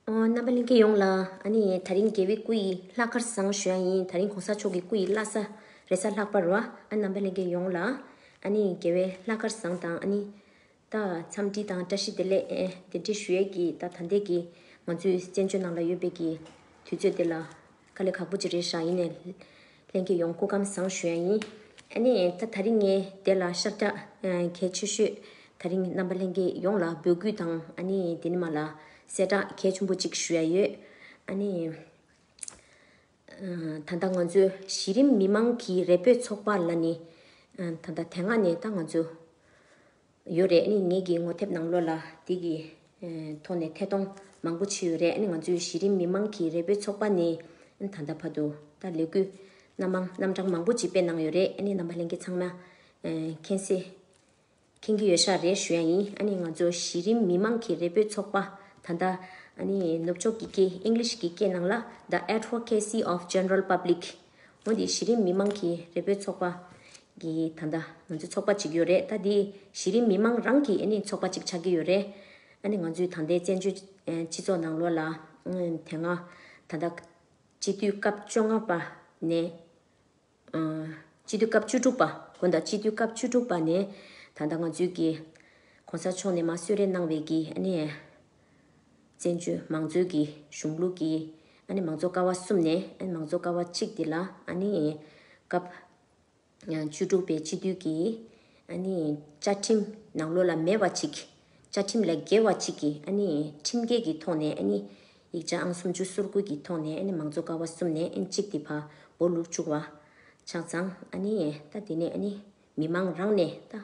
རྣམ་པ་གླིང་གི་ཡོངས་ལ། ད་རིང་རྒྱལ་བའི་སྐུ་ཡི་ལྷ་དཀར་བཟང་བཞོན་ཡིན། ད་རིང་གོང་ས་མཆོག་གི་སྐུ་ཡི་བླ་ས་རེ་ས་ལྷག་པར་བ། རྣམ་པ་གླིང་གི་ཡོངས་ལ། རྒྱལ་བའི་ལྷ་དཀར་བཟང་དང། ད་འཚམས་འདྲི་དང་བཀྲ་ཤིས་བདེ་ལེགས་འདྲི་ཞུ་ཡས་ཀྱིས། ད་ཐ་འདད་ཀྱི་ང་ཚོའི་བཙན་བྱོལ་ནང་ལ་ཡོད་པའི་ཀྱི་དུས་ཚོད་འདི་ལ། ཁ་ལེ་ཁག་པོ་ཅི་རེད་ཧྲ་ཡིན་ནས། ལྷན་སྐྱེས་ཡོང་སྐུ་ཁམས་བཟང་ཞུ་ཡ་ཡིན། ཨ་ནེ། ད་ད་རིང་ངའི་དེ་ལ་ཤག་རྒྱག་གལ་ཆེ་ཤོས། ད་རིང་རྣམ་པ་ལྷན་སྐྱེས་ཡོངས་ལ་འབོད་སྐུལ་དང་ཨ་ནེ། དེ་ནི་མ་ལ་གསལ་བསྒྲགས་གལ་ཆུང་པོ་ཅིག་ཞུ་ཡ་ཡོད། ཨ་ནེ། ད་ལྟ་ང་ཚོའི་གཞི་རིམ་མི་མང་གི་རེ་འབོད་ཚོགས་པ་ལ་ནི། ད་ལྟ་དེ་སྔ་ནས་ད་ང་ཚོའི། ཡོད་རེད་ནི་ངེད་ཀྱི་ངོ་དེབ་ནང་ལོ་ལ་དེ་གི་ཐོག་ནས་ཐད་གཏོང་མང་པོ་བྱས་ཡོད་རེད་ནི་ང་ཚོའི་གཞི་རིམ་མི་མང་གི་རེ་འབོད་ཚོགས་པ་ནི་ད་ལྟ་བར་དུ་ད་ལས་འགུལ་སྣ་མང་རྣམ་གྲངས་མང་པོ་ཅིག་སྤེལ་གནང་ཡོད་རེད་ནི་རྣམ་པ་གླེང་གི་ཚང་མ་མཁྱེན་སེ་མཁྱེན་གྱི་ཡོད་ཤག་རེད་ཞུ་ཡ་ཡིན་ཨ་ནི་ང་ཚོ་གཞི་རིམ་མི་མང་གི་རེ་འབོད་ཚོགས་པ་ད་ལྟ་ཨ་ནི་ནུབ་ཕྱོགས་ཀྱི་སྐད English ཀྱི་སྐད་ནང་ལ The Advocacy of General Public། འོན་ཏེ་གཞི་རིམ་མི་མང་གི་རེ་འབོད་ཚོགས་པ། གི་ད་ལྟ་ང་ཚོས་ཚོགས་པ་གཅིག་ཡོད་རེད་ད་འདི་གཞི་རིམ་མི་མང་རང་གིས་ནི་ཚོགས་པ་གཅིག་ཆགས་ཀྱི་ཡོད་རེད། ཨ་ནི་ང་ཚོས་ད་ལྟའི་བཙན་བྱོལ་སྤྱི་ཚོགས་ནང་ལོ་ལ་དེ་སྔ་ད་ལྟ། སྤྱི་འཐུས་སྐབས་བཅོ་ལྔ་པ་ནས། སྤྱི་འཐུས་སྐབས་བཅུ་དྲུག་པ་དགོན་དང་སྤྱི་འཐུས་སྐབས་བཅུ་དྲུག་པ་ནས། ད་ལྟ་ང་ཚོས་ཀྱི། གོང་ས་མཆོག་ནས་མ་གསོད་རེ་གནང་བའི་ཀྱི་ཨ་ནི། བཙན་བྱོལ་མང་གཙོའི་གི་གཞུང་ལུགས་ཀྱི། ཨ་ནི་མང་གཙོ་ཀ་བ་གསུམ་ནས་མང་གཙོ་ཀ་བ་གཅིག་འདི་ལ་ཨ་ནི། སྐབས། བཅུ་དྲུག་པའི་སྤྱི་འཐུས་ཀྱི། ཨ་ནི། བཅའ་ཁྲིམས་ནང་ལོ་ལ་མེ་བ་གཅིག། བཅའ་ཁྲིམས་ལས་འགལ་བ་གཅིག་གི་ཨ་ནི་ཁྲིམས་འགལ་གི་ཐོག་ནས་ཨ་ནི། ཡིག་ཆ་ཨང་སུམ་ཅུ་སོར་དགུ་གི་ཐོག་ནས་ཨ་ནི་མང་གཙོ་ཀ་བ་གསུམ་ནས་ཨ་ནི་གཅིག་འདི་བ་འོ་ལུགས་བཅུག་བ། ཆགས་ཙང་ཨ་ནི། ད་འདི་ནས་ཨ་ནི། མི་མང་རང་ནས་ལྟ།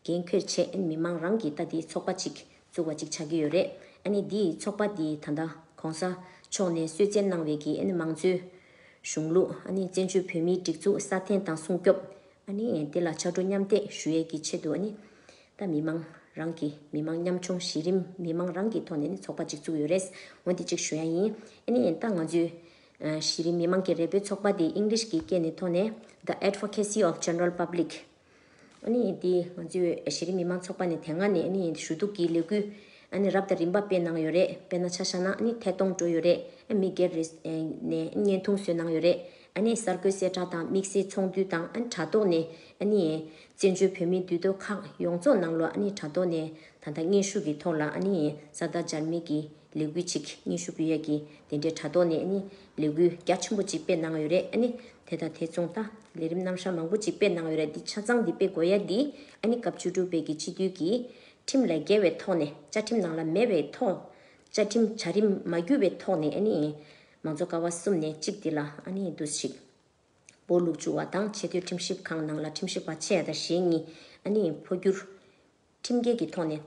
འགན་ཁྱོད་ཆེ་མི་མང་རང་གིས་ལྟ་དེ་ཚོགས་པ་གཅིག་བཙུགས་པ་ཅིག་ཆགས་ཀྱི་ཡོད་རེད་ཨ་ནི་དེ་ཚོགས་པ་དེ་ད་ལྟ ྋགོང་ས་མཆོག་ནས་གསོལ་བསྩལ་གནང་བའི་གི་ཨ་ནི་མང་གཙོའི་གཞུང་ལུགས་ཨ་ནི་བཙན་བྱོལ་བོད་མིའི་སྒྲིག་འཛུགས་སྲ་བརྟན་དང་སྲུང་སྐྱོབ་ཨ་ནི་དེ་ལ་ཕྱག་གྲུ་མཉམ་འདེགས་ཞུ་ཡས་ཀྱི་ཆེད་དུ་ཨ་ནི་ད་མི་མང་རང་གིས་མི་མང་མཉམ་ཆུང་གཞི་རིམ་མི་མང་རང་གི་ཐོག་ནས་ནི་ཚོགས་པ་གཅིག་བཙུགས་ཡོད་རེད་ཨོ་དེ་གཅིག་ཞུ་ཡ་ཡིན་ཨ་ནི་ད་ང་ཚོའི་གཞི་རིམ་མི་མང་གི་རེ་འབོད་ཚོགས་པ་དེ English གི་སྐད་ནས་ཐོག་ནས The Advocacy of General Public ཨཱ་ནི་དེ་ང་ཚོའི་གཞི་རིམ་མི་མང་ཚོགས་པ་ནས་དེ་སྔ་ནས་ཨཱ་ནི་ཞུ་གཏུག་གི་ལས་འགུལ་ཨཱ་ནི་རབ་དང་རིམ་པ་སྤེལ་གནང་ཡོད་རེད་དཔེར་ན་ཆ་བཞག་ན་ཨཱ་ནི་ཐད་གཏོང་འགྲོ་ཡོད་རེད་ཨཱ་མི་སྒེར་རེས་ནས་ཨཱ་ནི་བརྙན་ཐུང་བཟོས་གནང་ཡོད་རེད་ཨཱ་ནི་གསར་འགོད་གསལ་བསྒྲགས་དང་དམིགས་བསལ་ཚོགས་འདུ་དང་ཨཱ་ནི་དྲ་ཐོག་ནས་ཨཱ་ནི་བཙན་བྱོལ་བོད་མིའི་འདུས་སྡོད་ཁག་ཡོངས་རྫོགས་ནང་ལོ་ཨཱ་ནི་དྲ་ཐོག་ནས་ད་ལྟ་སྙན་ཞུ་གི་ཐོག་ལ་ཨཱ་ནི་གསར་བདག་འཇར་མན་གྱི་ལས་འགུལ་གཅིག་གཉིས་ཤུ་བུའི་ཡ་གི་དེ་འདྲའི་དྲ་ཐོག་ནས་ནི་ལས་འགུལ་རྒྱ་ཆེན་པོ་གཅིག་སྤེལ་གནང་ཡོད་རེད་ནི་དེ་དང་དེ་མཚུངས་ད་ལས་རིམ་རྣམ་གཞག་མང་པོ་གཅིག་སྤེལ་གནང་ཡོད་རེད་འདི་ཆ་ཚང་འདི་སྤེལ་དགོས་ཡ་འདི་ནི་སྐབས་བཅུ་དྲུག་པའི་གི་སྤྱི་འཐུས་ཀྱི་ཁྲིམས་ལས་འགལ་བའི་ཐོག་ནས་བཅའ་ཁྲིམས་ནང་ལ་མེད་པའི་ཐོག་བཅའ་ཁྲིམས་བྱ་རིམ་མ་བརྒྱུད་པའི་ཐོག་ནས་ནི་མང་གཙོ་ཀ་བ་གསུམ་ནས་གཅིག་འདི་ལ་ནི་བསྡུ་བཞིག་པོ་ལུགས་བཅུ་བ་དང་ཆེ་མཐོའི་ཁྲིམས་ཞིབ་ཁང་ནང་ལ་ཁྲིམས་ཞིབ་པ་ཕྱེད་དང་ཞེ་གཉིས་ནི་འཕོ་འགྱུར་ཁྲིམས་འགལ་གྱི་ཐོག་ནས་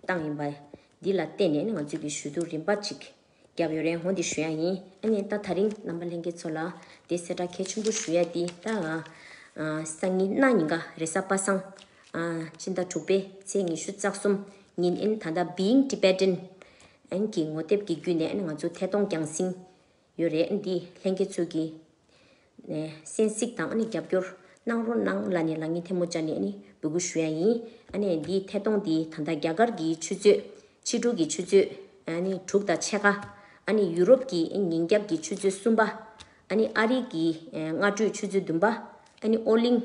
བཏང་ཡིན་པ། འདི་ལ་བརྟེན་ནས་ང་ཚོས་ཀྱི་ཞུ་གཏུག་རིམ་པ་གཅིག་བརྒྱབ་ཡོད་རེད་ཧོ་འདི་ཞུ་ཡག་ཡིན་ཨ་ནི་ད་ད་རིང་རྣམ་པ་ལྷན་རྒྱས་ཚོ་ལ་དེ་གསལ་བསྒྲགས་གལ་ཆེན་པོ་ཞུ་ཡག་འདི་ལྟར་ང་སང་ཉིན་གནའ་ཉིན་ག་རེ་ས་པ་སང་སྤྱི་ཟླ་དྲུག་པའི་ཚེས་ཉི་ཤུ་རྩ་གསུམ་ཉིན་ཨན་ད་ལྟ Being Tibetan གི་ངོ་དེབ་ཀྱི་བརྒྱུད་ནས་ང་ཚོ་ཐད་གཏོང་བསྐྱངས་ཟིན་ཡོད་རེད་འདི་ལྷན་རྒྱས་ཚོས་ཀྱི་ནས་སེན་གཟིགས་དང་ནི་རྒྱབ་སྐྱོར་གནང་རོ་གནང་ལ་ནི་ལ་ཉིན་ཐེ་མོ་ཅ་ནས་ནི་འབུད་གུ་ཞུ་ཡ་ཡིན་ཨ་ནས་འདི་ཐད་གཏོང་འདི་ད་ལྟ་རྒྱ་གར་གྱི་ཆུ་ཚོད་ཕྱི་དྲུག་གི་ཆུ་ཚོད་ཨ་ནི་དྲུག་དང་ཕྱེད་ཀ་ཨ་ནི་ཡུ་རོབ་ཀྱི་ཉིན་རྒྱབ་ཀྱི་ཆུ་ཚོད་གསུམ་པ་ཨ་ནི་ཨ་རིག་གི་སྔ་དྲོའི་ཆུ་ཚོད་བདུན་པ་ཨ་ནི་ཨོ་གླིང་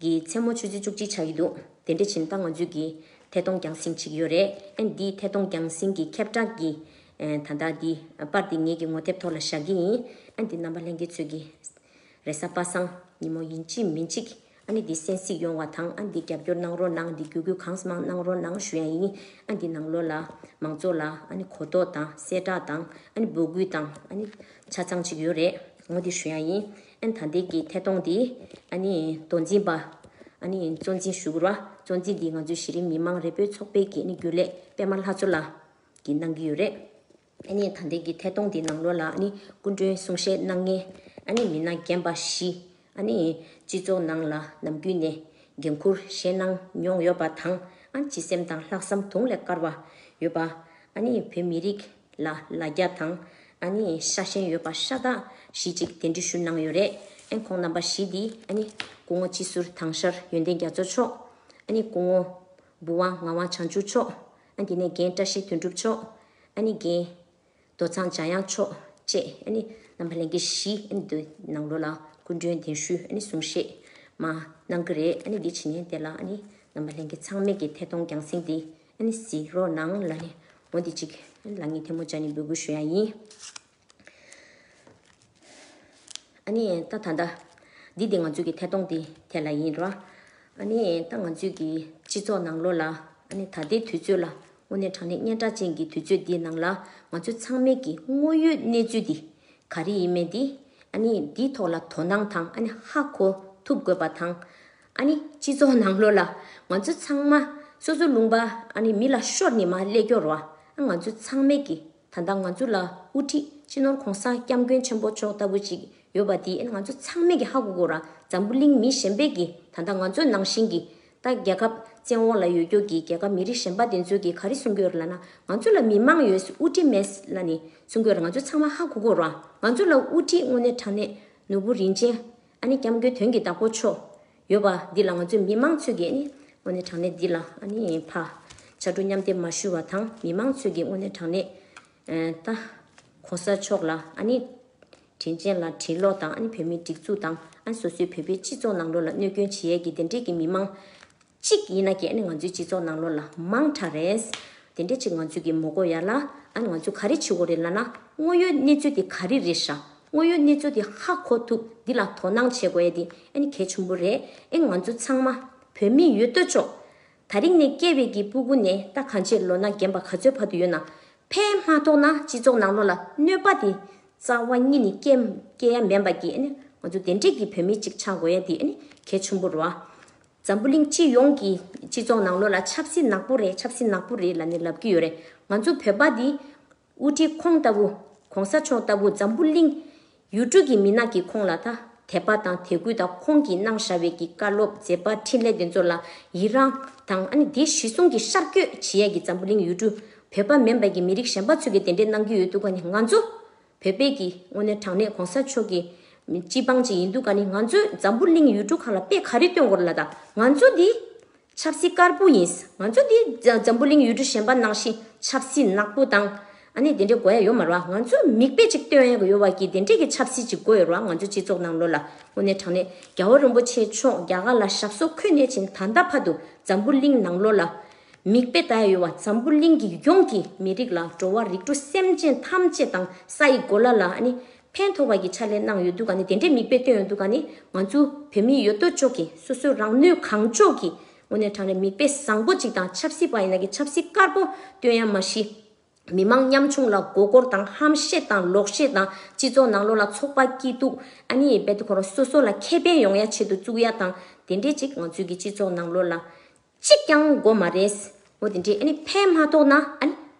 གི་མཚན་མོ་ཆུ་ཚོད་བཅུ་གཅིག་ཆགས་ཀྱི་འདུག་དེ་འདྲ་ཕྱིན་ད་ང་ཚོས་ཀྱི་ཐད་གཏོང་རྒྱང་བསྲིང་བྱེད་ཀྱི་ཡོད་རེད་ཨ་ནི་འདིའི་ཐད་གཏོང་རྒྱང་བསྲིང་གི་ཁྱབ་བསྒྲགས་ཀྱི་ད་ལྟ་འདི་པར་འདི་ངེད་ཀྱི་ངོ་དེབ་ཐོག་ལ་བཞག་གི་ཡིན་ཨ་འདི་རྣམ་པ་ལྷན་རྒྱས་ཚོས་ཀྱི་རེ་ས་པ་སང་ཉིན་མོ་ཡིན་གཅིག་མིན་གཅིག་ཨ་ནི་འདི་གསན་གཟིགས་ཡོང་བ་དང་ཨ་འདི་རྒྱབ་སྐྱོར་གནང་རོགས་གནང་འདི་བརྒྱུད་སྐུལ་གང་ས་མང་གནང་རོགས་གནང་ཞུ་ཡ་ཡིན་ཨ་འདི་ནང་ལོགས་ལ་མང་ཚོགས་ལ་ཨ་ནི་གོ་རྟོགས་དང་གསལ་བསྒྲགས་དང་ཨ་ནི་འབོད་སྐུལ་དང་ཨ་ནི་ཆ་ཚང་བྱེད་ཀྱི་ཡོད་རེད་ངོ་འདི་ཞུ་ཡ་ཡིན། ཨན་དང་དེ་ཀྱི་ཐད་གཏོང་དེ། མདོ་འཛིན་པ། གཙོ་འཛིན་ཞུ་གུ་ར། གཙོ་འཛིན་འདི་ང་ཚོའི་གཞི་རིམ་མི་དམངས་རེ་འབོད་ཚོགས་པའི་གི་ནི་རྒྱུན་ལས་པད་མ་ལྷ་མཚོ་ལ། གི་གནང་གི་ཡོད་རེད། ཨན་དང་དེ་ཀྱི་ཐད་གཏོང་དེ་ནང་ལོ་ལ་ནི་སྐུ་མགྲོན་གསུང་བཤད་གནང་མཁན། ཨན་མི་སྣ་རྒན་པ་བཞི། ཨན། སྤྱི་ཚོགས་ནང་ལ་ནམ་རྒྱུན་ནས། འགན་འཁུར་བཞེས་གནང་མྱོང་ཡོད་པ་དང། ཨན་སྤྱི་སེམས་དང་ལྷག་བསམ་དུང་ལས་དཀར་བ། ཡོད་པ། ཨན་བོད་མི་རིགས། ལ་ལ་རྒྱ་དང། ཨ་ནི་ཤ་ཞེན་ཡོད་པ་ཤ་སྟག་བཞི་གཅིག་དེ་འདྲི་ཞུ་གནང་ཡོད་རེད་ཨེ་འཁོང་རྣམ་པ་བཞི་དེ་ཨ་ནི། སྐུ་ངོ་སྤྱི་ཟུར་དྭངས་ཤར་ཡོན་ཏན་རྒྱ་མཚོ་མཆོག་ཨ་ནི། སྐུ་ངོ། བུ་དབང་ངག་དབང་བྱང་ཆུབ་མཆོག་ཨ་དེ་ནས་རྒན་བཀྲ་ཤིས་དོན་གྲུབ་མཆོག་ཨ་ནི། རྒན། རྡོ་ཚང་འཇམ་དབྱངས་མཆོག་བཅས་ཨ་ནི། རྣམ་པ་ལྷན་རྒྱས་བཞི་ཨ་ནི་དེ་ནང་ལོ་ལ་སྐུ་མགྲོན་གདན་ཞུ་ཨ་ནི་གསུང་བཤད། མ། གནང་གི་རེད་ཨ་ནི་དེ་ཕྱི་ནས་དེ་ལ་ཨ་ནི། རྣམ་པ་ལྷན་རྒྱས་ཚང་མེད་ཀྱི་ཐད་གཏོང་རྒྱང་སྲིང་དེ། ཨ་ནི་ཟི་རོ་སྣང་ལ་ནི་མོ་འདི་གཅིག། ལ་ངའི་ཐལ་མོ་བཅའ་ནི་འབོད་སྐུལ་ཞུ་ཡ་ཡིན། ཨ་ནི་ད་ད་ད། འདི་འདི་ང་ཚོས་ཀྱི་ཐལ་གཏོང་འདི་དེ་ལ་ཡིན། རོ་ཨ་ནི་ད་ང་ཚོས་ཀྱི་སྤྱི་ཚོགས་ནང་ལོ་ལ། ཨ་ནི་ད་ལྟའི་དུས་ཚོད་ལ་དངོས་གནས་དྲང་གནས་སྙན་གྲགས་ཅན་གྱི་དུས་ཚོད་འདིའི་ནང་ལ། ང་ཚོ་ཚང་མས་ཀྱི་དངོས་ཡོད་གནས་ཚུལ་འདི། ག་རེ་ཡིན་མེད་འདི། ཨ་ནི་འདིའི་ཐོག་ལ་དོ་སྣང་དང་ཨ་ནི་ཧ་གོ་ཐུབ་དགོས་པ་དང། ཨ་ནི་སྤྱི་ཚོགས་ནང་ལོགས་ལ་ང་ཚོ་ཚང་མ་སོ་སོ་ལུང་པ་ཨ་ནི་མི་ལ་ཤོར་ནི་མ་ཀླད་སྐྱོར་བ་ཨ་ང་ཚོ་ཚང་མའི་གི་ད་ལྟ་ང་ཚོ་ལ་དབུ་ཁྲིད་སྤྱི་ནོར་གོང་ས་སྐྱབས་མགོན་ཆེན་པོ་མཆོག་ལྟ་བུ་ཅིག་ཡོད་པ་དེ་ཨ་ནི་ང་ཚོ་ཚང་མའི་གི་ཧ་གོ་གོ་ར་འཛམ་བུ་གླིང་མི་གཞན་པའི་གི་ད་ལྟ་ང་ཚོ་ནང་བཞིན་གི་ད་རྒྱལ་ཁབ་བཙན་འོག་ལ་ཡོད་རྒྱུ་གི་རྒྱལ་ཁབ་མི་རིགས་གཞན་པ་དེ་ཚོའི་གི་ག་རི་གསུང་གོས་ལ་ན་ང་ཚོ་ལ་མི་མང་ཡོད་དབུ་ཁྲིད་མེད་ལ་ནི་གསུང་གོས་ལ་ང་ཚོ་ཚང་མ་ཧ་གོ་གོ་ར་ང་ཚོ་ལ་དབུ་ཁྲིད་དངོས་གནས་དྲང་གནས་ནོར་བུ་རིན་ཆེན་ཨ་ནི་སྐྱབས་མགོན་དོན་གྱི་བདག་པོ་མཆོག། ཡོད་པ་འདི་ལ་ང་ཚོས་མི་དམངས་ཚོས་ཀྱིས་ནི། དངོས་གནས་དྲང་གནས་འདི་ལ་ཨ་ནི་ཕ། ཕྱར་གྲུ་མཉམ་སྡེབ་མ་ཞུ་བ་དང་མི་དམངས་ཚོས་ཀྱིས་དངོས་གནས་དྲང་གནས། ད། གོང་ས་མཆོག་ལ་ཨ་ནི། དྲིན་ཅན་ལ་དྲིན་ལོག་དང་ཨ་ནི་བོད་མིའི་སྒྲིག་འཛུགས་དང་ཨ་ནི་སོ་སོའི་བོད་པའི་སྤྱི་ཚོགས་ནང་ལོགས་ལ་གནོད་སྐྱོན་བྱེད་ཡས་ཀྱི་དེ་འདྲས་ཀྱི་མི་དམངས། གཅིག་ཡིན་ན་གྱནས་ང་ཚོའི་སྤྱི་ཚོགས་ནང་ལོ་ལ་མང་དྲག་རེད། དེ་འདྲས་གཅིག་ང་ཚོས་ཀྱི་མོ་དགོ་ཡ་ལ་ཨ་ང་ཚོས་ག་རེ་བྱེད་དགོ་རེད་ལ་ན་དངོས་ཡོད་གནས་ཚུལ་དེ་ག་རེ་རེད་ཧྲ་དངོས་ཡོད་གནས་ཚུལ་དེ་ཧ་གོ་ཐུབ་འདི་ལ་དོ་སྣང་བྱེད་དགོ་ཡ་དེ་ཨ་ནི་གལ་ཆུང་པོ་རེད་ཨེ་ང་ཚོ་ཚང་མ་བོད་མི་ཡོད་ལྟོས་ཆོག་ད་རིང་ནས་སྐྱེ་བའི་གྱི་སྤུ་གུ་ནས་ད་གང་ཆེ་ལོ་ན་རྒན་པ་ག་ཚོད་བར་དུ་ཡོད་ན་ཕས་མ་ཐོག་ན་སྤྱི་ཚོགས་ནང་ལོ་ལ་གནོད་པ་དེ་རྩ་བ་གཉིས་ནི་སྐྱེ་སྐྱེ་ཡ་མེན་པ་གྱི་ཨ་ནི་ང་ཚོ་དེ་འདྲས་གྱི་བོད་མི་གཅིག་ཆག་དགོ་ཡ་དེ་ཨ་ནི་གལ་ཆུང་པོ་རོ་ཨ་འཛམ་བུ་གླིང་སྤྱི་ཡོངས་ཀྱི་སྤྱི་ཚོགས་ནང་ལོ་ལ་ཆབ་སྲིད་ནག་པོ་རེད་ཆབ་སྲིད་ནག་པོ་རེད་ལ་ནི་ལབ་ཀྱི་ཡོད་རེད་ང་ཚོ་བོད་པ་འདི། དབུ་ཁྲིད་ཁོང་ལྟ་བུ ྋགོང་ས་མཆོག་ལྟ་བུ་འཛམ་བུ་གླིང། ཡུལ་གྲུ་གྱི་མི་ནག་གི་ཁོང་ལ་ཐ་དད་པ་དང་དད་གུས་དང་ཁོང་གི་གནང་བཞའ་བའི་གྱི་བཀའ་སློབ་མཛད་པ་འཕྲིན་ལས་དེ་ཚོ་ལ་ཡི་རང་དང་ཨ་ནི་དེ་གཞི་བཟུང་གི་ཤར་བསྐྱོད་བྱེད་ཡས་གྱི་འཛམ་བུ་གླིང་ཡུལ་གྲུ་བོད་པ་མིན་པ་གྱི་མི་རིགས་གཞན་པ་ཚོས་གྱི་དེ་འདྲའི་གནང་གྱི་ཡོད་འདུག་ག་ནི་ང་ཚོ་བོད་པས་ཀྱི་དངོས་གནས་དྲང་གནས་གོང་ས་མཆོག་གི་སྤྱི་འབངས་ཅིག་ཡིན་འདུག་ག་ནི་ང་ཚོས་འཛམ་བུ་གླིང་ཡུལ་གྲུ་གང་ལ་དཔེ་ག་རེ་སྟོན་དགོས་རེད་ལ་དང་ང་ཚོ་འདི་ཆབ་སྲིད་དཀར་པོ་ཡིན་ང་ཚོ་འདི་འཛམ་བུ་གླིང་ཡུལ་གྲུ་གཞན་པ་ནང་བཞིན་ཆབ་སྲིད་ནག་པོ་དང་ཨ་ནི་དེ་འདྲའི་དགོས་ཡ་ཡོད་མ་རུང་བ་ང་ཚོས་མིག་དཔེ་ཅིག་སྟོན་ཡ་གི་ཡོད་བ་ཀྱི་དེ་འདྲའི་ཀྱི་ཆབ་སྲིད་ཅིག་དགོས་ཡོད་རུང་བ་ང་ཚོའི་སྤྱི་ཚོགས་ནང་ལོ་ལ་དངོས་གནས་དྲང་གནས་རྒྱལ་བ་རིན་པོ་ཆེ་མཆོག་རྒྱ་གར་ལ་ཞབས་སོ་འཁོད་ནས་ཕྱིན་ད་ལྟ་བར་དུ་འཛམ་བུ་གླིང་ནང་ལོ་ལ་མིག་དཔེ་ལྟ་ཡོད་བ་འཛམ་བུ་གླིང་གི་ཡོངས་ཀྱི་མི་རིགས་ལ་འགྲོ་བ་རིགས་དྲུག་སེམས་ཅན་ཐམས་ཅད་དང་ས་ཡི་གོ་ལ་ལ་ནི་ཕན་ཐོགས་པ་ཀྱི་ཕྱག་ལས་གནང་ཡོད་འདུག་ག་ནི་དེ་འདྲའི་མིག་དཔེ་སྟོན་ཡོད་འདུག་ག་ནི་ང་ཚོའི་བོད་མི་ཡོད་དོ་ཅོག་གིས་སོ་སོའི་རང་ནུས་གང་ལྕོགས་ཀྱི་ངོ་ནས་དྲང་རེད་མིག་དཔེ་བཟང་པོ་ཅིག་དང་ཆབ་སྲིད་པ་ཡིན་ན་གི་ཆབ་སྲིད་དཀར་པོ་སྟོན་ཡ་མ་གཞི། མི་མང་ཉམ་ཆུང་ལ་མགོ་སྐོར་དང་ཧམ་བཤད་དང་ལོག་བཤད་དང་སྤྱི་ཚོགས་ནང་ལོག་ལ་ཚོགས་པ་སྐྱིད་སྡུག་ཨ་ནི་རྦད་དེ་ཁོ་རང་སོ་སོ་ལ་ཁེ་ཕན་ཡོང་ཡ་བྱེད་དུ་བཅུག་ཡ་དང་དེ་འདྲའི་ཅིག་ང་ཚོའི་གི་སྤྱི་ཚོགས་ནང་ལོག་ལ། གཅིག་ཀྱང་དགོས་མ་རེད། འོ་དེ་འདྲས་ཕན་མ་ཐོགས་ན་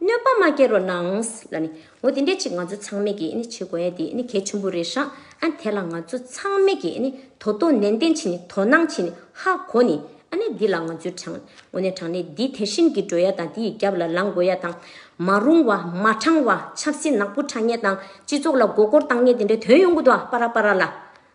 གནོད་པ་མ་སྐྱེལ་རོགས་གནང། ལ་ནི། འོ་དེ་འདྲས་གཅིག་ང་ཚོ་ཚང་མེད་ཀྱིས་བྱེད་དགོས་ཡ་དེ་གལ་ཆེན་པོ་རེད་ཧྲ། ཨ་དེ་ལ་ང་ཚོ་ཚང་མེད་ཀྱིས་དོ་དོ་ནན་ཏན་བྱེད་ནི་དོ་སྣང་བྱེད་ནི་ཧ་གོ་ནི། ཨ་ནི་འདི་ལ་ང་ཚོའི་དྲང། འོ་ནས་དྲང་ནས་འདི་དེ་བཞིན་གྱིས་འགྲོ་ཡ་དང་འདི་ཡི་རྒྱབ་ལ་ལངས་དགོས་ཡ་དང། མ་རུང་བ་མ་དྲང་བ་ཆབ་སྲིད་ནག་པོ་དྲང་ངེས་དང་སྤྱི་ཚོགས་ལ་མགོ་སྐོར་བཏང་ངེས་དེ་འདྲས་དོན་ཡོང་གི་འདུག་ཨ་པ་ར་པ་ར་ལ།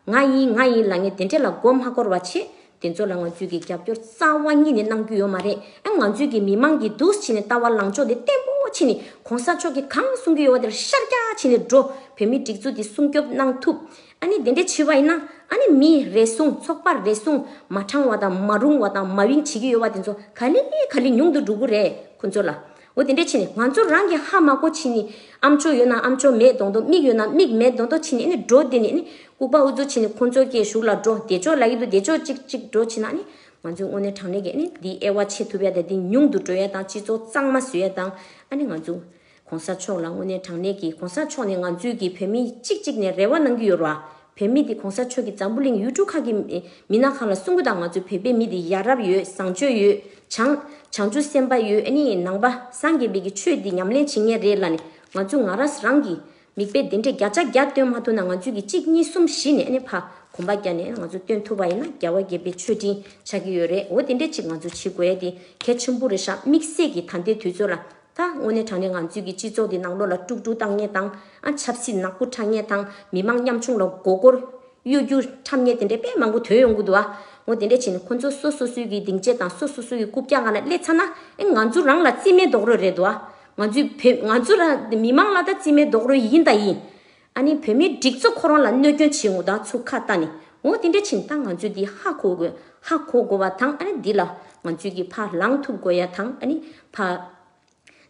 ང་ཡིན་ང་ཡིན་ལ་ངས་དེ་འདྲས་ལ་མགོ་མ་འཁོར་བ་བྱེད། དེ་ཚོ་ལ་ང་ཚོས་ཀྱི་རྒྱབ་སྐྱོར་རྩ་བ་ཉིད་ནས་གནང་རྒྱུ་ཡོད་མ་རེད་ཨ་ང་ཚོས་ཀྱི་མི་མང་གི་འདུག་ཕྱི་ནས་ལྟ་བ་ལང་ཕྱོགས་འདི་བརྟན་པོ་ཕྱི་ནས་གོང་ས་མཆོག་གི་གང་གསུང་གི་ཡོད་བ་དེར་ཤར་རྒྱ་ཕྱི་ནས་འགྲོ་བོད་མི་སྒྲིག་འཛུག་འདི་སྲུང་སྐྱོབ་གནང་ཐུབ་ཨ་ནི་དེ་འདྲས་བྱེད་བ་ཡིན་ན་ཨ་ནི་མི་རེ་ཟུང་ཚོགས་པ་རེ་ཟུང་མ་དྲང་བ་དང་མ་རུང་བ་དང་མ་དབྱིངས་བྱེད་ཀྱི་ཡོད་བ་དེ་ཚོ་ག་ལི་ག་ལི་ཉུང་དུ་འགྲོ་གི་རེད་ཁོ་ཚོ་ལ་འོ་དེ་འདྲའི་ཕྱིར་ནི་ང་ཚོ་རང་གི་ཧ་མ་གོ་ཕྱིན་ནི་ཨ་མཆོག་ཡོད་ན་ཨ་མཆོག་མེད་གདོང་གདོང་མིག་ཡོད་ན་མིག་མེད་གདོང་གདོང་ཕྱིན་ནི་ནི་འགྲོ་དེ་ནི་ནི་ལྐུག་པ་འུ་ཚོ་ཕྱིན་ནི་ཁོ་ཚོ་སྐྱེས་གཞུག་ལ་འགྲོ་བདེ་མཆོག་ལ་ཡིད་དུ་བདེ་མཆོག་ཅིག་གཅིག་འགྲོ་ཕྱིན་ན་ནི་ང་ཚོའི་དངོས་གནས་དྲང་གནས་ཀྱི་ནི་འདི་ཨེ་བ་བྱེད་ཐུབ་ཡ་དང་འདི་ཉུང་དུ་འགྲོ་ཡ་དང་སྤྱི་ཚོགས་གཙང་མ་བཟོ་ཡ་དང་ཨ་ནི་ང་ཚོ ྋགོང་ས་མཆོག་ལ་དངོས་གནས་དྲང་གནས་ཀྱི ྋགོང་ས་མཆོག་ནི་ང་ཚོའི་གི་བོད་མི་གཅིག་གཅིག་ནས་རེ་བ་གནང་གི་ཡོད་ར་བོད་མི་དེ་གོང་ས་མཆོག་གི་འཛམ་བུ་གླིང་ཡུལ་གྲུ་ཁག་གི་མི་ནག་གང་ལ་གསུང་གི་དང་ང་ཚོའི་བོད་པའི་མི་དེ་ཡ་རབས་ཡོད་བཟང་སྤྱོད་ཡོད་བྱང། བྱང་ཆུབ་སེམས་དཔའ་ཡོད་ནི་ནང་པ་སངས་རྒྱས་འབེལ་གྱི་ཆོས་དེ་ཉམས་ལེན་བྱེད་ངེས་རེད་ལ་ནི་ང་ཚོ་ང་ར་རང་གི་མིག་དཔེ་དེ་འདྲས་བརྒྱ་ཆ་བརྒྱ་སྟོན་མ་ཐུབ་ན་ང་ཚོས་གི་གཅིག་གཉིས་གསུམ་བཞི་ནས་ནི་ཕ་གོམ་པ་བརྒྱ་ནས་ང་ཚོ་སྟོན་ཐུབ་པ་ཡིན་ན་རྒྱལ་བ་དགྱེས་པའི་མཆོད་སྤྲིན་ཆགས་ཀྱི་ཡོད་རེད་འོ་དེ་འདྲས་གཅིག་ང་ཚོ་བྱེད་དགོས་ཡ་དེ་གལ་ཆེན་པོ་རེད་ཤག་དམིགས་བསལ་གི་ད་ལྟའི་དུས་ཚོད་ལ་ད་དངོས་གནས་དྲང་གནས་ང་ཚོའི་གི་སྤྱི་ཚོགས་འདི་ནང་ལོ་ལ་དཀྲུག་དཀྲུག་བཏང་ཉེས་བཏང། ཆབ་སྲིད་ནག་པོ་ཁྲ་ཉེས་བཏང་མི་དམངས་ཉམ་ཆུང་ལ་མགོ་སྐོར། གཡོ་རྒྱུ་ཁྲམ་ཉེས་དེ་འདྲའི་དཔེ་མང་པོ་ཐོན་ཡོང་གི་འདུག་ཨ། ངོ་དེ་འདྲས་བྱས་ནས་ཁོ་ཚོ་སོ་སོ་སོའི་གི་སྡིངས་ཆའི་དང་སོ་སོ་སོའི་གི་རྐུབ་བཀྱག་ང་ན་སླེ་ཚ་ན། ཨེ་ང་ཚོ་རང་ལ་རྩིས་མེད་རྡོག་རོལ་རེད་འདུག་ཨ། ང་ཚོའི་བོད་ང་ཚོ་ར་མི་དམངས་ལ་ད་རྩིས་མེད་རྡོག་རོལ་ཡིན་ད་ཡིན། ཨ་ནི་བོད་མིའི་སྒྲིག་འཛུགས་ཁོ་རང་ལ་གནོད་སྐྱོན་བྱེད་ངོ་ད་ཚུགས་ཁ་ཏ་ནི་འོ་དེ་འདྲ་བྱིན་ད་ང་ཚོས་འདི་ཧ་གོ་དགོས་ཧ་གོ་དགོས་བ་དང་ཨ་ནི་འདི་ལ་ང་ཚོས་ཀྱི་བ་ལང་ཐུབ་དགོས་ཡ་དང་ཨ་ནི་བ།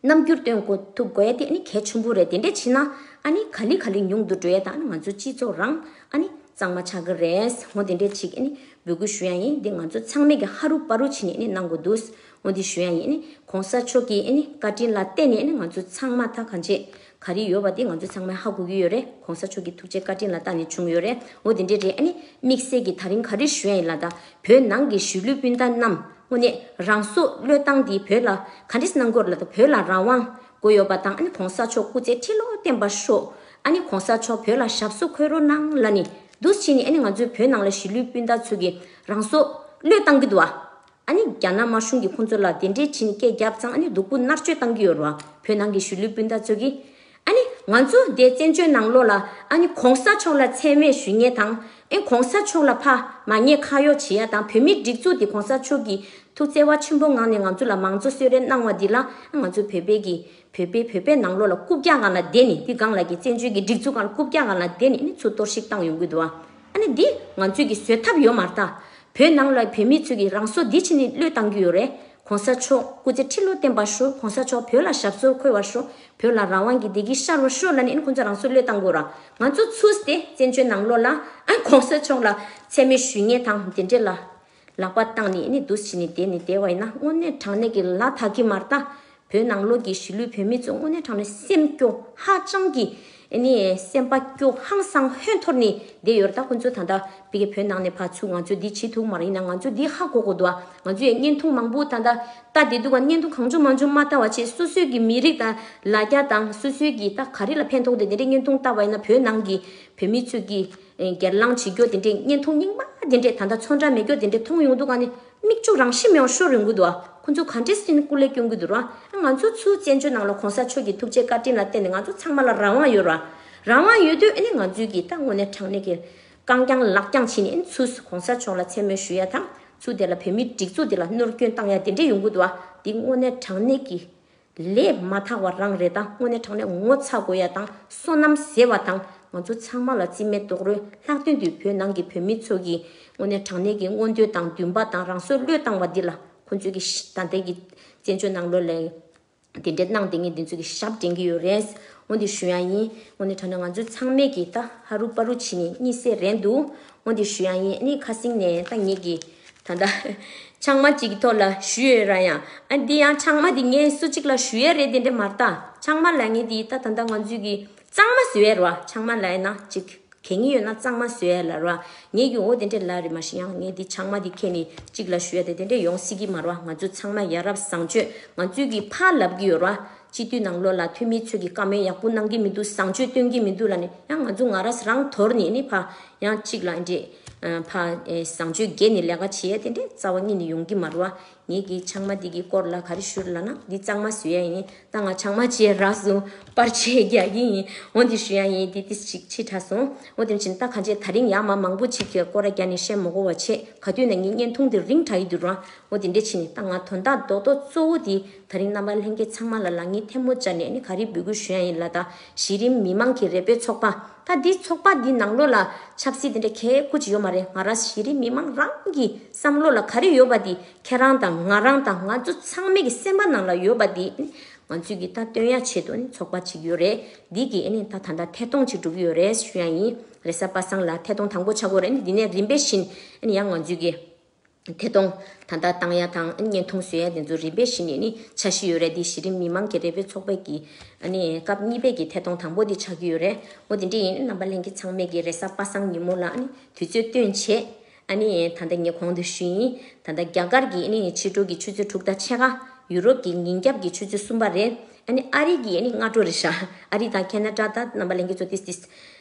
རྣམ་འགྱུར་སྟོན་དགོ་ཐུབ་དགོས་ཡ་དེ་ཨ་ནི་གལ་ཆེན་པོ་རེད་དེ་འདྲ་བྱིན་ན་ཨ་ནི་ག་ལི་ག་ལི་ཉུང་དུ་འགྲོ་ཡ་དང་ཨ་ནི་ང་ཚོའི་སྤྱི་ཚོགས་རང་ཨ་ནི་གཙང་མ་ཆགས་ཀྱི་རེད་འོ་དེ་འདྲ་ཅིག་ཨ་ནི་འབོད་སྐུལ་ཞུ་ཡ་ཡིན་འདི་ང་ཚོ་ཚང་མས་ཀྱི་ཧ་རུ་པ་རུ་བྱིན་ནས་ཨ་ནི་གནང་དགོས་འདུག་འོ་འདི་ཞུ་ཡ་ཡིན་ཨ་ནི་གོང་ས་མཆོག་གྱི་ཨ་ནི་བཀའ་དྲིན་ལ་བརྟེན་ནས་ཨ་ནི་ང་ཚོ་ཚང་མ་ད་ག་འཇེ་ག་རེ་ཡོད་བ་དེ་ང་ཚོ་ཚང་མས་ཧ་གོ་གི་ཡོད་རེད་གོང་ས་མཆོག་གི་ཐུགས་རྗེ་བཀའ་དྲིན་ལ་བརྟག་ནས་བྱུང་ཡོད་རེད་འོ་དེ་འདྲའི་རེད་ཨ་ནི་དམིགས་བསལ་གྱི་ད་རིང་ག་རེ་བཞོན་ཡིན་ལ་དྭ་བོད་ནང་གི་གཞིས་ལུས་སྤུན་ཟླ་རྣམས་དངོས་གནས་རང་སྲོག་བློས་བཏང་དེ་བོད་ལ་ག་འདྲེ་གནང་དགོས་རེད་ལ་དྭ་བོད་ལ་རང་དབང་དགོས་ཡོད་པ་དང་ཨ་ནི་གོང་ས་མཆོག་སྐུ་ཚེ་ཁྲི་ལོ་བརྟན་པ་ཤོག་ཨ་ནི་གོང་ས་མཆོག་བོད་ལ་ཞབས་སོ་འཁོལ་རོགས་གནང་ལ་ནི་འདུག་ཕྱིས་ནི་ཨ་ནི་ང་ཚོའི་བོད་ནང་ལ་གཞིས་ལུས་སྤུན་ཟླ་ཚོ་གི་རང་སྲོག་བློས་བཏང་གི་འདུག་ཨ། ཨ་ནི་རྒྱ་ནག་དམར་གཞུང་གིས་ཁོང་ཚོ་ལ་དེ་འདྲའི་བྱིན་སྐད་རྒྱབ་ཙང་ཨ་ནི་སྡུག་པོ་མནར་གཅོད་གཏང་གི་ཡོད་རུ་ཨ་བོད་ནང་གི་གཞིས་ལུས་སྤུན་ཟླ་ཚོ་གིས་ཨ་ནི་ང་ཚོ་འདས་བཙན་བྱོལ་ནང་ལོག་ལ་ཨ་ནི་གོང་ས་མཆོག་ལ་མཚན་སྨད་ཞུས་ཉེས་དང་ཨེ་གོང་ས་མཆོག་ལ་ཕ་མ་ཉེས་ཁ་གཡོག་བྱེད་ཡ་དང་བོད་མི་སྒྲིག་འཛུགས་འདི་གོང་ས་མཆོག་གིས་ཐུགས་བརྩེ་བ་ཆེན་པོ་ངང་ནས་ང་ཚོ་ལ་མང་གཙོ་གསོལ་རས་གནང་བ་འདི་ལ་ཨ་ང་ཚོ་བོད་པའི་གིས་བོད་པའི་བོད་པའི་ནང་ལོག་ལ་རྐུབ་བཀྱག་གང་ལ་བསྡད་ནས་འདི་གང་ལ་གིས་བཙན་བྱོལ་གྱི་སྒྲིག་འཛུགས་གང་ལ་རྐུབ་བཀྱག་གང་ལ་བསྡད་ནས་ཨ་ནི་ཚུར་གཏོར་བཤིག་གཏང་ཡོང་གི་འདུག་ཨ། ཨ་ནི་འདི་ང་ཚོས་ཀྱི་བཟོད་ཐབས་ཡོད་མ་རྟ། བོད་ནང་ལ་བོད་མི་ཚོས་ཀྱི་རང་སྲོག་འདི་ཕྱི་ནས་བློས་བཏང་གི་ཡོད་རེད་གོང་ས་མཆོག་སྐུ་ཚེ་ཁྲི་ལོ་བརྟན་པར་ཤོག་གོང་ས་མཆོག་བོད་ལ་ཞབས་སོར་འཁོལ་བར་ཤོག་བོད་ལ་རང་དབང་གི་བདེ་སྐྱིད་ཤར་བར་ཤོག་ལ་ནི་ཁོང་ཚོ་རང་སྲོག་བློས་བཏང་དགོས་རང་ང་ཚོ་ཚུད་དེ་བཙན་བྱོལ་ནང་ལོག་ལ་ཨ་ནི་གོང་ས་མཆོག་ལ་ཚད་མེད་ཞུས་ངེས་དང་འདི་འདྲས་ལ། ལག་པ་བཏང་ནས་ནི་འདུ་བྱེད་ནི་དེ་ནི་དེ་བས་ན་དངོས་གནས་དྲང་གནས་ཀྱི་ལ་དྭགས་ཀྱི་མར་ལྟ། བོད་ནང་ལོགས་ཀྱི་གཞིས་ལུས་བོད་མི་ཚོ་དངོས་གནས་དྲང་གནས་སེམས་སྐྱོ་ཧ་ཅང་གི་ནི་སེམས་པ་སྐྱོ་ཧང་སང་ཧོན་འཐོར་ནི་བསྡད་ཡོད་ར་ད་ཁོ་ཚོ་ད་ལྟ་བི་གེ་བོད་ནང་ནས་ཕར་ཚུར་ང་ཚོ་འདི་བྱེད་ཐུག་མ་ར་ཡིན་ན་ང་ཚོ་འདི་ཧ་གོ་གོ་འདུག་ཨ་ང་ཚོ་ཡ་བརྙན་ཐུང་མང་པོ་ད་ལྟ་ལྟ་བསྡད་འདུག་ཨ་བརྙན་ཐུང་གང་བྱུང་མང་བྱུང་མ་ལྟ་བ་ཆེད་སོ་སོའི་གི་མི་རིགས་དང་ལ་རྒྱ་དང་སོ་སོའི་གི་ད་ག་རི་ལ་ཕན་ཐོག་འདི་འདི་འདྲའི་བརྙན་ཐུང་ལྟ་བས་ན་བོད་ནང་གི་བོད་མི་ཚོས་གི། སྒེར་ལངས་བྱེད་རྒྱུ་དེ་འདྲའི་བརྙན་ཐུང་རྙིང་པ་དེ་འདྲས་ད་ལྟ་ཚོང་འདྲ་མེད་རྒྱུ་དེ་འདྲས་མཐོང་ཡོང་འདུག་ག་ནི་མིག་ཆུ་རང་ཤི་མི་ཡོང་ཤོར་ཡོང་གི་འདུག་ཨ་ཁོང་ཚོ་ག་འདྲས་སུ་ནི་སྐུ་ལས་སྐྱོན་གི་འདུག་ར་ང་ཚོ་ཚོའི་བཙན་བྱོལ་ནང་ལ་གོང་ས་མཆོག་གི་ཐུགས་རྗེ་བཀའ་དྲིན་ལ་བརྟེན་ནས་ང་ཚོ་ཚང་མ་ལ་རང་དབང་ཡོད་ར་རང་དབང་ཡོད་དུས་ཨ་ནི་ང་ཚོས་གིས་ད་དངོས་གནས་དྲང་གནས་ཀྱི་རྐང་རྐྱང་ལག་རྐྱང་བྱིན་ནས་ཨ་ནི་ཚུ་གོང་ས་མཆོག་ལ་མཚན་སྨོད་ཞུ་ཡ་དང་ཚུ་དེ་ལ་བོད་མིའི་སྒྲིག་འཛུགས་འདི་ལ་གནོར་སྐྱོན་བཏང་ཡ་དེ་འདྲས་ཡོང་གི་འདུག་ཨ་དེ་དངོས་གནས་དྲང་གནས་ཀྱི་ལས་མ་ཐག་བ་རང་རེ་ད་དངོས་གནས་དྲང་གནས་ངོ་ཚ་དགོས་ཡ་དང་སོ་ནམ་ཟེར་བ་དང་ང་ཚོ་ཚང་མ་ལ་རྩིས་མེད་རྡོག་རོལ་ལྷག་དོན་དུ་བོད་ནང་གི་བོད་མི་ཚོ་གིས་དངོས་གནས་དྲང་གནས་ཀྱི་མངོན་འདོད་དང་འདུན་པ་དང་རང་སྲོལ་བློས་བཏང་བ་འདི་ལ་ཁོ་ཚོས་ཀྱི་ད་ལྟའི་གི་བཙན་བྱོལ་ནང་ལོ་ལ་དེ་འདྲའི་གནང་དེ་ངས་འདི་ཚོ་གི་ཞབས་འདྲེན་གྱི་ཡོད་རེད་འོན་ཏེ་ཞུ་ཡང་ཡིན་དངོས་གནས་དྲང་གནས་ང་ཚོ་ཚང་མས་ཀྱི་ད་ཧ་རུ་པ་རུ་བྱེད་ནས་གཉིད་སད་རན་འདུག་ཧོ་འདི་ཞུ་ཡང་ཡིན་ནི་ཁ་བསྲིང་ནས་ད་ངེད་ཀྱི་ད་ལྟ་ཆང་མ་གཅིག་གི་ཐོག་ལ་ཞུ་ཡོད་ར་ཡང་ཨ་འདི་ཡང་ཆང་མ་འདི་ངས་སུ་གཅིག་ལ་ཞུ་ཡས་རེད་དེ་འདྲས་མ་རྟ་ཆང་མ་ལ་ངེད་འདི་ད་ད་ད་ང་ཚོས་གི་གཙང་མ་ཟོས་ཡས་ར་ཆང་མ་ལ་ཡས་ན་གཅིག་གད་ངི་ཡོད་ན་གཙང་མ་ཟོས་ཡས་ལ་ར་ངེད་ཀྱི་འོ་དེ་འདྲས་ལ་རེད་མ་ཞིག་ཡང་ངེད་འདི་ཆང་མ་འདི་ཁད་ནི་གཅིག་ལ་ཞུ་ཡས་དེ་དེ་འདྲས་ཡོང་སྲིད་གི་མ་ར་ང་ཚོས་ཚང་མ་ཡ་རབས་བཟང་སྤྱོད་ང་ཚོས་གི་ཕ་ལབ་གི་ཡོད་ར། སྤྱི་འཐུས་ནང་ལོག་ལ་འཐུས་མི་ཚོས་ཀྱི་བཀའ་མོལ་ཡག་པོ་གནང་གི་མི་འདུག་བཟང་སྤྱོད་སྟོན་གྱི་མི་འདུག་ལ་ནི་ཡང་ང་ཚོ་ང་རས་རང་དོར་ནས་ནི་ཕ་ཡང་གཅིག་ལ་འདྲེས། ཕ་བཟང་སྤྱོད་རྒྱས་ནི་ལས་ཀ་བྱེད་ཡས་དེ་འདྲས་རྩ་བ་གཉིས་ནི་ཡོང་གི་མ་རུ་ཨ། ངེད་ཀྱི་ཆང་མ་འདི་གི་སྐོར་ལ་ག་རི་ཞུ་ལ་ན་འདི་གཙང་མ་བཟོས་ཡས་ཡིན་ད་ང་ཆང་མ་བྱས་རགས་སུ་པར་ཆས་རྒྱག་གི་ཡིན་འོ་འདི་ཞུ་ཡ་ཡིན་འདི་ཏི་ཞིག་ཕྱི་དྲགས་སོང་འོ་དེ་བྱིན་ད་ག་འཇས་ད་རིང་ཡག་མ་མང་པོ་ཅིག་གི་སྐོར་ར་རྒྱ་ནི་བཤད་མོ་གོ་བ་བྱས་ག་དུས་ན་ངའི་བརྙན་ཐུང་འདི་རིང་དྲགས་ཡི་འདུག་ར་འོ་དེ་འདྲས་བྱིན་ད་ང་དོན་དག་རྡོག་རྡོག་གཙོ་བོ་འདི། ད་རིང་རྣམ་པ་ལྷན་རྒྱས་ཚང་མ་ལ་ལག་གཉིས་ཐལ་མོ་སྦྱར་ནས་ནི་ག་རེ་འབུལ་དགོས་ཞུ་ཡ་ཡིན་ལ་ད་གཞི་རིམ་མི་མང་གི་རེ་འབོད་ཚོགས་པ་ད་འདི་ཚོགས་པ་འདི་ནང་ལོ་ལ་ཆབ་སྲིད་དེ་འདྲ་གས་ཁུ་ཅི་ཡོད་མ་རེད་ང་རང་གཞི་རིམ་མི་མང་རང་གི་བསམ་བློ་ལ་ག་རེ་ཡོད་པ་འདི་ཁྱེད་རང་དང་ང་རང་དང་ང་ཚོ་ཚང་མས་གི་སེམས་པ་ནང་ལ་ཡོད་པ་འདི་ནི་ང་ཚོས་གི་ད་བཏོན་ཡ་ཆེད་དུ་ནི་ཚོགས་པ་ཅིག་ཡོད་རེད་འདི་གི་ནི་ད་ད་ལྟ་ཐད་གཏོང་ཅིག་འགྲོ་གི་ཡོད་རེད་ཞུ་ཡ་ཡིན་རེད་ས་པ་སངས་ལ་ཐད་གཏོང་དང་པོ་ཆགས་དགོས་རེད་འདི་ནས་རིམ་པས་བཞིན་ཡང་ང་ཚོས་གི། ཐད་གཏོང། ད་ལྟ་ཏང་ཡ་དང་བརྙན་ཐུང་བཟོས་ཡ་དེ་ཚོ་རིམ་པས་གཞི་ནས་ནི་ཆགས་བཞི་ཡོད་རེད་འདི་གཞི་རིམ་མི་མང་གི་རེ་འབོད་ཚོགས་པའི་གི་སྐབས་གཉིས་པས་ཀྱི་ཐད་གཏོང་དང་པོ་དེ་ཆགས་ཀྱི་ཡོད་རེད་མོ་དེ་འདྲས་ཡིན་རྣམ་པ་ལྷན་གྱི་ཚང་མས་གི་རེ་ས་པ་སངས་ཉིན་མོ་ལ་ནི་དུས་ཚོད་སྟོན་བྱེད་ད་ལྟ་ངས་གོང་དུ་ཞུས་ཡིན་ད་ལྟ་རྒྱ་གར་གྱི་ནི་ཕྱི་དྲོ་གི་ཆུ་ཚོད་དྲུག་དང་ཕྱེད་ཀ་ཡུ་རོབ་ཀྱི་ཉིན་རྒྱབ་ཀྱི་ཆུ་ཚོད་གསུམ་པ་རེད་ནི་ཨ་རི་གྱི་ནི་སྔ་དྲོ་རེད་ཤག་ཨ་རི་དང་ཁེ་ན་ཏྲ་དང་རྣམ་པ་ལྷན་གྱི་ཚོ་ཏིས་ཏིས་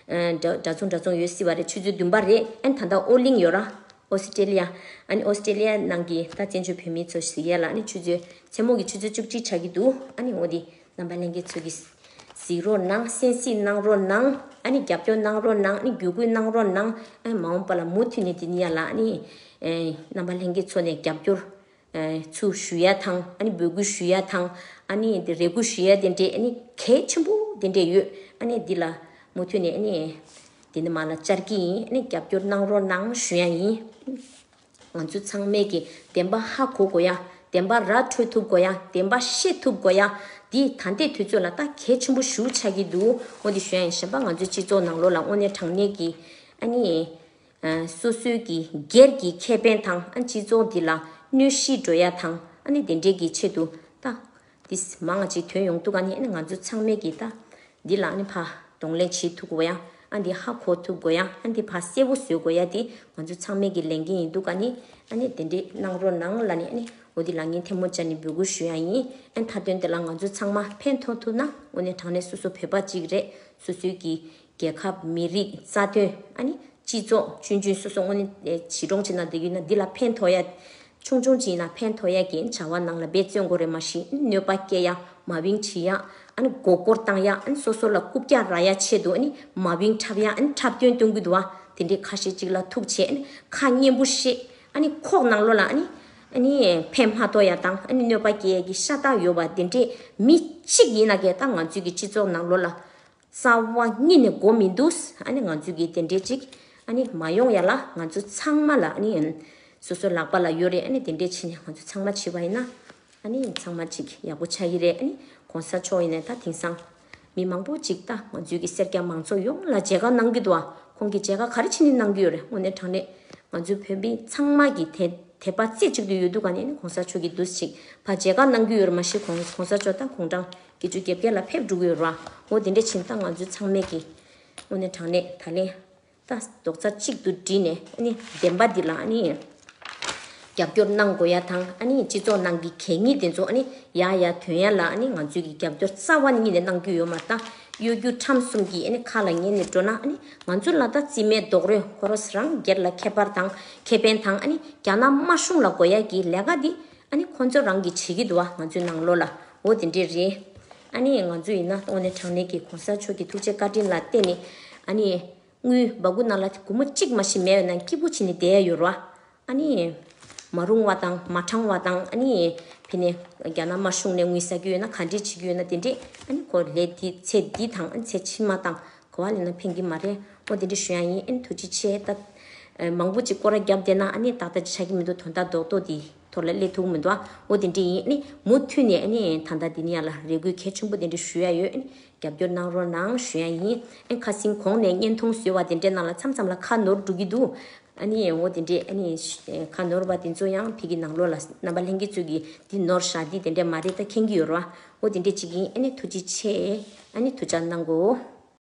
འདྲ་མཚུངས་འདྲ་མཚུངས་ཡོད་སྲིད་པ་རེད་ཆུ་ཚོད་བདུན་པ་རེད་ད་ལྟ་ཨོ་གླིང་ཡོད་ར། Australia། Australia། ནང་གི་ད་བཙན་བྱོལ་བོད་མི་ཚོ་གཟིགས་ཡས་ལ་ནི་ཆུ་ཚོད་མཚན་མོ་གི་ཆུ་ཚོད་བཅུ་གཅིག་ཆགས་ཀྱི་འདུག་ཨ་ནི་ངོ་དེ་རྣམ་པ་གླེང་མཁན་ཚོས་གིས་གཟིགས་རོགས་གནང་གསན་གཟིགས་གནང་རོགས་གནང་ཨ་ནི་རྒྱབ་སྐྱོར་གནང་རོགས་གནང་ཨ་ནི་བརྒྱུད་སྐུལ་གནང་རོགས་གནང་ཨ་ནི་མ་འོངས་པ་ལ་མུ་མཐུད་ནས་དེ་ནི་ཡ་ལ་ཨ་ནི་རྣམ་པ་གླེང་མཁན་ཚོ་ནས་རྒྱབ་སྐྱོར། ཚུལ་ཞུ་ཡ་དང་འབོད་སྐུལ་ཞུ་ཡ་དང་རེ་སྐུལ་ཞུ་ཡ་དེ་འདྲའི་གལ་ཆེན་པོ་དེ་འདྲས་ཡོད། འདི་ལ་མུ་མཐུད་ནས་འདི་འདི་མ་ལ་བཅར་གྱི་ཡིན་རྒྱབ་སྐྱོར་གནང་རོགས་གནང་ཞུ་ཡ་ཡིན། ང་ཚོ་ཚང་མས་ཀྱི་བདེན་པ་ཧ་གོ་དགོས་ཡ། བདེན་པ་ར་འཕྲོད་ཐུབ་དགོས་ཡ་བདེན་པ་ཤེས་ཐུབ་དགོས་ཡ། འདི་ད་ལྟའི་དུས་ཚོད་ལ་ལྟ་གལ་ཆེན་པོ་ཞུ་ཆགས་ཀྱི་འདུག་ངོ་འདི་ཞུ་ཡ་ཡིན་གཞན་པ་ང་ཚོའི་སྤྱི་ཚོགས་ནང་ལོགས་ལ་དངོས་གནས་དྲང་གནས་ཀྱི། སོ་སོའི་གི་སྒེར་གྱི་ཁེ་ཕན་དང་སྤྱི་ཚོགས་འདི་ལ་གནོད་གཞི་འགྲོ་ཡ་དང་ནི་དེ་འདྲས་ཀྱི་ཆེད་དུ་ད་དིས་མ་ང་ཅིག་དོན་ཡོང་ཐུག་ག་ནི་ང་ཚོ་ཚང་མས་གི་ད་འདི་ལ་ནི་ཕ་གདོང་ལེན་བྱེད་ཐུག་གོ་ཡ་འདི་ཧ་གོ་ཐུག་གོ་ཡ་འདི་ཕ་གསལ་བོ་བཟོས་གོ་ཡ་དེ་ང་ཚོ་ཚང་མས་གི་ལེན་གི་ཡིན་ཐུག་ག་ནི་ནི་དེ་འདྲས་གནང་རོགས་གནང་ལ་ནི་ནི་འོ་དི་ལ་ངས་ཐེ་མོ་ཅ་ནི་འབོད་སྐུལ་ཞུ་ཡ་ཡིན་མཐའ་དོན་དེ་ལ་ང་ཚོ་ཚང་མ་ཕན་ཐོག་ཐུག་ན་འོ་ནི་དྲང་ནས་སོ་སོ་བོད་པ་ཅིག་རེད་སོ་སོའི་གི་རྒྱལ་ཁབ་མི་རིགས་རྩ་དོན་ཨ་ནི་སྤྱི་ཚོགས་ཆུན་རྒྱུན་སོ་སོ་དངོས་གཞི་གྲོང་ཁྱེར་ནང་འདི་ཡུལ་ན་འདི་ལ་ཕན་ཐོགས་ཡ། ཆུང་ཆུང་ཅིག་ཡིན་ན་ཕན་ཐོགས་ཡ་གི་བྱ་བ་ནང་ལ་འབད་བརྩོན་འགོ་རེ་མ་ཞིག་གནོད་པ་སྐྱེལ་ཡ་མ་བིང་བྲི་ཡ་ཨ་ནི་མགོ་སྐོར་བཏང་ཡ་ཨ་ནི་སོ་སོ་ལ་རྐུབ་བཀྱག་ར་ཡ་ཆེད་དུ་ཨ་ནི་མ་བིང་འཁྲབ་ཡ་ཨ་ནི་འཁྲབ་སྟོན་སྟོན་གུ་དུ་བ་དེ་འདྲའི་ཁ་ཤས་ཅིག་ལ་ཐུགས་ཆེ་ཨ་ནི་ཁ་སྙན་པོ་བཤད་ཨ་ནི་ཁོག་ནང་བློ་ལ་ཨ་ནི་ཨ་ནི་ཕན་མ་ཐོགས་ཡ་དང་ཨ་ནི་གནོད་པ་སྐྱེལ་ཡ་གི་ཤ་སྟག་ཡོད་པ་དེ་འདྲའི་མི་གཅིག་ཡིན་ན་གས་ད་ང་ཚོའི་གི་སྤྱི་ཚོགས་ནང་བློ་ལ། གསང་བ་གཉིས་ནི་གོ་མི་འདུག་ཨ་ནི་ང་ཚོ་གི་དེ་འདྲས་ཅིག་ཨ་ནི་མ་ཡོང་ཡ་ལ་ང་ཚོ་ཚང་མ་ལ་ཨ་ནི་སོ་སོ་ལག་པ་ལ་ཡོད་རེད་ཨ་ནི་དེ་འདྲས་བྱས་ནས་ང་ཚོ་ཚང་མ་བྱས་པ་ཡིན་ན་ཨ་ནི་ཚང་མ་ཅིག་ཡག་པོ་ཆགས་ཡི་རེད་ཨ་ནི་གོང་ས་མཆོག་ཡིན་ན་ད་དེང་སང་མི་མང་པོ་ཅིག་ད་ང་ཚོའི་གི་སེར་སྐྱ་མང་ཚོགས་ཡོངས་ལ་མཇལ་ཁ་གནང་གི་འདུག་ཨ་ཁོང་གི་མཇལ་ཁ་ག་རེ་བྱས་ནས་གནང་གི་ཡོད་རེད་དངོས་གནས་དྲང་གནས་ང་ཚོའི་བོད་མི་ཚང་མ་གི་དེ་དེ་པ་རྩེ་གཅིག་ཏུ་ཡོད་འདུག་ག་ནས་ཨ་ནི་གོང་ས་མཆོག་གི་འདུག་ཅིག་ཕ་མཇལ་ཁ་གནང་གི་ཡོད་རེད་མ་གཞི་གོང་གོང་ས་མཆོག་ད་ཁོང་དྲང་དགེ་བཅུ་བརྒྱད་བརྒྱ་ལ་ཕེབས་འགྲོ་གི་ཡོད་རང་ངོ་དེ་འདྲས་ཕྱིན་ད་ང་ཚོའི་ཚང་མས་ཀྱི་དངོས་གནས་དྲང་གནས་ད་ལན་ད་རྡོག་རྩ་གཅིག་ཏུ་བསྒྲིལ་ནས་ཨ་ནི་བདེན་པ་འདི་ལ་ཨ་ནི་རྒྱབ་སྐྱོར་གནང་དགོས་ཡ་དང་ཨ་ནི་སྤྱི་ཚོགས་ནང་གི་གད་སྙིགས་དེ་ཚོ་ཨ་ནི་ཡ་ཡ་དོན་ཡ་ལ་ཨ་ནི་ང་ཚོས་ཀྱི་རྒྱབ་སྐྱོར་རྩ་བ་ཉིད་ནས་གནང་རྒྱུ་ཡོད་མ་ད་གཡོ་སྒྱུ་ཁྲམ་གསུམ་གྱི་ཨ་ནི་ཁ་ལ་ཉན་ནས་འགྲོ་ན་ཨ་ནི་ང་ཚོ་ལ་ད་རྩིས་མེད་རྡོག་རོས་ཁོ་རོ་སི་རང་སྒེར་ལ་ཁྱད་པར་དང་ཁེ་ཕན་དང་ཨ་ནི་རྒྱ་ནག་དམར་གཞུང་ལ་དགོས་ཡ་གྱི་ལས་ཀ་འདི་ཨ་ནི་ཁོ་ཚོ་རང་གིས་བྱེད་ཀྱི་འདུག་ཨ་ང་ཚོའི་ནང་ལོགས་ལ་འོ་དེ་འདྲས་རེད། ཨ་ནི་ང་ཚོ་ཡིན་ན་ལྟོགས་ནས་གྲང་ནས་ཀྱི་གོང་ས་མཆོག་གི་ཐུགས་རྗེ་བཀའ་དྲིན་ལ་བརྟེན་ནས་ཨ་ནི། དངུལ་སྦ་དགུ་ནང་ལ་དགུ་མོ་གཅིག་མ་ཞིག་མེད་པའི་ནང་སྐྱིད་པོ་བྱེད་ནས་བསྡད་ཡོད་རོ། ཨ་ནི། མ་རུང་བ་དང་མ་དྲང་བ་དང་ཨ་ནི། བྷི་ནས་རྒྱ་ནག་དམར་གཞུང་ནས་དངུལ་ཟ་རྒྱུ་ཡོད་ན་ག་འདྲས་བྱེད་རྒྱུ་ཡོད་ན་དེ་འདྲས་ཨ་ནི་གོ་ལས་འདི་ཚེ་འདི་དང་ཨ་ནི་ཚེ་ཕྱི་མ་དང་གོ་བ་ལེན་ན་ཕན་གྱི་མ་རེད། ཨོ་དེ་འདྲ་ཞུ་ཡག་ཡིན་ཨེ་ཐུགས་རྗེ་ཆེ། ད་མང་པོ་ཅིག་སྐོར་ར་རྒྱབ་བསྡད་ན་ཨ་ནི་ཏག་ཏག་ཅིག་ཆགས་ཀྱི་མི་འདུག་དོན་དག་རྡོག་རྡོག་འདི་ཐོག་ལ་སླེ་ཐུག་གི་མི་འདུག་ཨ་ཨོ་དེ་འདྲ་ཡིན་ཨ་ནི་མུ་མཐུད་ནས་ཨ་ནི་ད་ལྟ་འདི་ནས་ཡ་ལ་རེ་སྒུག་གལ་ཆེན་པོ་དེ་འདྲ་ཞུ་ཡག་ཡོད་ཨ་ནི་རྒྱབ་སྐྱོར་གནང་རོགས་གནང་ཞུ་ཡག་ཡིན་ཨ་ཁ་སིང་གོང་ནས་བརྙན་ཐུང་བཟོས་བ་དེ་འདྲ་ནང་ལ་མཚམས་མཚམས་ལ་ཁ་ནོར་འགྲོ་གི་འདུག་ཨ་ནི་ཨོ་དེ་འདྲ་ཨ་ནི་ཁ་ནོར་བ་དེ་ཚོ་ཡང་ཕིག་གི་ནང་ལོག་ལ་རྣམ་པ་ལྷན་རྒྱས་ཚོད་ཀྱིས་འདི་ནོར་བཞག་འདི་དེ་འདྲ་མ་རེད་ད་མཁྱེན་གྱི་ཡོད་རོགས་ཨ་ཨོ་དེ་འདྲ་ཅིག་ཡིན་ཨ་ནི་ཐུགས་རྗེ་ཆེ་ཨ་ནི་ཐུགས་ཅག་གནང་གོ།